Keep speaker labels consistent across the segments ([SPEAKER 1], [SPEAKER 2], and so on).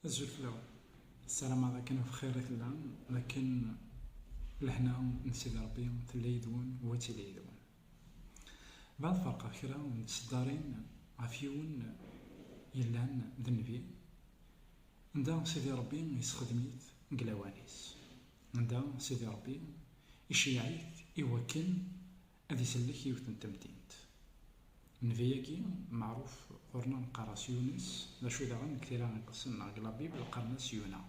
[SPEAKER 1] Azul fell-aw. Ssarameɣ d akken ɣef xir i tellam, d akken lehna n Sidi Ṛebbi tella yid-wen u ad tili yid-wen. Bɣiɣ ad ferqeɣ kra n tseddarin ɣef yiwen yellan d nnbi, anda Sidi Ṛebbi yessexdem-it deg lawan-is, anda Sidi Ṛebbi iceyyeɛ-it i wakken Ad isellek yiwet n temdint. Nnbi-agi meɛruf ɣur-neɣ neqqar-as Yunes, d acu daɣen deg tira iqedsen neɣ deg Labibel qqaren-as Yuna.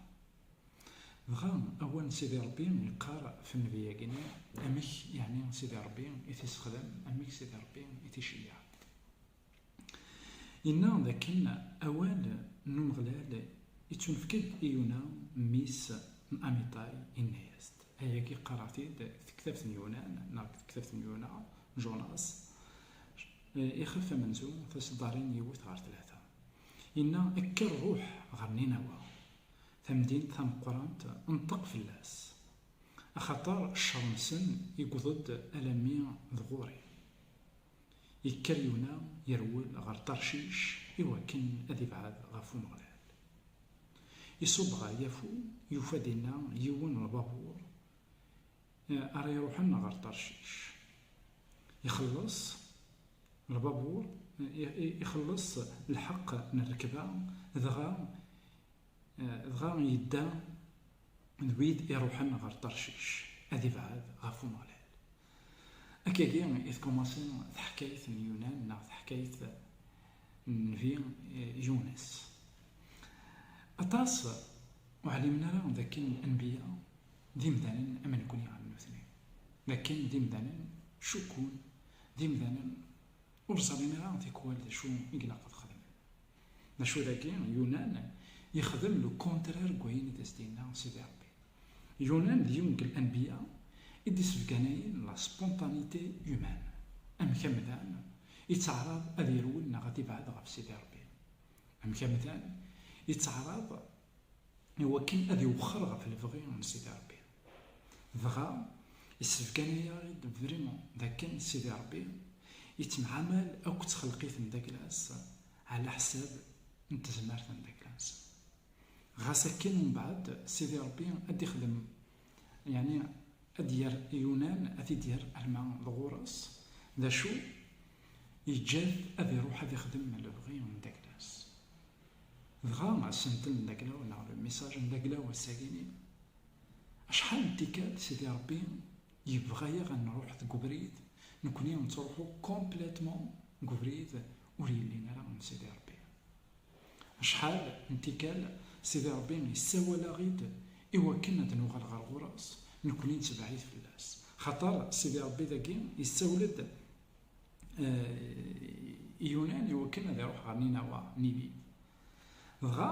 [SPEAKER 1] Dɣa awal n Sidi Ṛebbi yeqqar ɣef nnbi-agi-nni, Amek yeɛni Sidi Ṛebbi i t-issexdam, amek Sidi Ṛebbi i t-iceyyeɛ. Yenna dakken awal n Umeɣlal ittunefk-d i Yuna, mmi-s n Amitay, yenna-as-d. Ayagi qqareɣ-t-id deg tektabt n Yunan neɣ deg tektabt n Yuna, Jonas, ixef amenzu, taseddarin yiwet ɣer tlata. Yenna, Kker ruḥ ɣer Ninawa, tamdint tameqqrant, nṭeq fell-as, axaṭer ccer-nsen iwweḍ-d alammi d ɣur-i. Yekker Yuna yerwel ɣer Tarcic i wakken ad ibɛed ɣef Umeɣlal. Iṣubb ɣer Yafu, yufa dinna yiwen n lbabuṛ ara iṛuḥen ɣer Tarcic. Ixelleṣ lbabuṛ, ixelleṣ lḥeqq n rrekba, dɣa dɣa yedda d wid iruḥen ɣer Tarcic ad ibɛed ɣef Umeɣlal. Akkagi i tkumaṣi teḥkayt n Yunan neɣ teḥkayt n Nnbi Yunes. Aṭas ur ɛlimen ara d akken anbiya d imdanen am nekkni am nutni, d akken d imdanen cukkun, d imdanen ur ẓrin ara tikwal d acu i ilaq ad xedmen. Macu dagi, Yunan yexdem le contraire n wayen i d as-d-yenna Sidi Rebbi. Yunan d yiwen n anbiya i d-isbeganayen la spontanéité humaine, amek amdan yettaɛraḍ ad yerwel neɣ ad ibɛed ɣef Sidi Rebbi, amek amdan yettaɛraḍ i wakken ad iwexxer ɣef lebɣi n Sidi Rebbi. Dɣa, issebgan-iyi-id vraiment d akken Sidi Ṛebbi yettemɛamal akk ttxelqit n Daglas ɛla ḥsab n tezmert n Daglas. Ɣas akken mbeɛd Sidi Ṛebbi ad d-ixdem yeɛni ad d-yerr Yunan ad t-id-yerr arma d ɣur-s, d acu yeǧǧa-t ad iruḥ ad ixdem lebɣi n Daglas. Dɣa, asentel n Daglaw neɣ le message n Daglaw ass-agini Acḥal n tikkal Sidi Ṛebbi yebɣa-yaɣ ad nṛuḥ deg ubrid, nekkni nettṛuḥu complètement deg ubrid ur yellin ara n Sidi Ṛebbi. Acḥal n tikkal Sidi Ṛebbi yessawal-aɣ-id i wakken ad nuɣal ɣer ɣur-s, nekkni nettebɛid fell-as. Xaṭer Sidi Ṛebbi dagi yessawel-d i Yunan i wakken ad iṛuḥ ɣer Ninawa, Ninive. Dɣa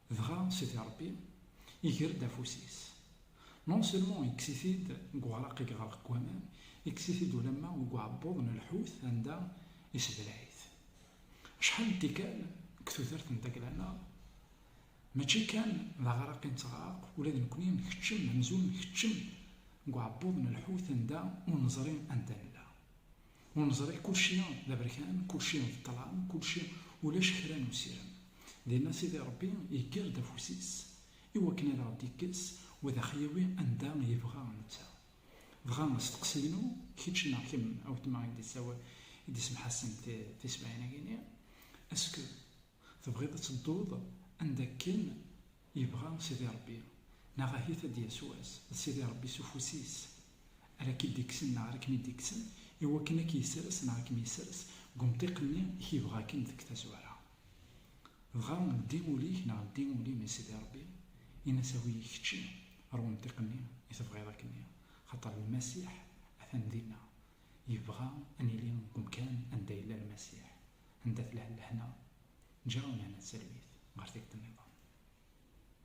[SPEAKER 1] Dɣa Sidi Ṛebbi iger-d afus-is, non seulement ikkes-it-id deg uɛraq i iɣreq deg waman, ikkes-it-id ulamma deg uɛebbuḍ n lḥut anda isebleɛ-it. Acḥal n tikkal deg tudert n Dagla-nneɣ, mačči kan d aɣraq i nettɣerreq, ula d nekkni nkeččem amzun nkeččem deg uɛebbuḍ n lḥut anda ur neẓri anda nella. Ur neẓri, kulci d aberkan, kulci d ṭṭlam, kulci ulac kra n usirem. Dinna Sidi Ṛebbi yegger-d afus-is i wakken ad aɣ-d-ikkes u ad aɣ-yawi anda yebɣa netta. Dɣa asteqsi-inu, kečč neɣ kemm a wetma i d-yessawal, i d-isemḥassen tisbaɛin-agi-nni, est-ce que. Tebɣiḍ ad tedduḍ anda akken yebɣa Sidi Ṛebbi, neɣ ahit ad d-yas wass d Sidi Ṛebbi s ufus-is ara k-id-ikksen neɣ ara kem-id-ikksen, i wakken ad k-yessers neɣ ad kem-yessers deg umṭiq-nni i k-yebɣa akken deg tazwara. Dɣa ldi ul-ik neɣ ldi ul-im i Sidi Ṛebbi, in-as awi-yi kečči ɣer wemṭiq-nni i tebɣiḍ akken-nni, xaṭer Lmasiḥ atan dinna, yebɣa ad nili deg umkan anda yella Lmasiḥ. anda telha lehna, ǧǧiɣ-awen hna tsermit ɣer tikkelt-nniḍen.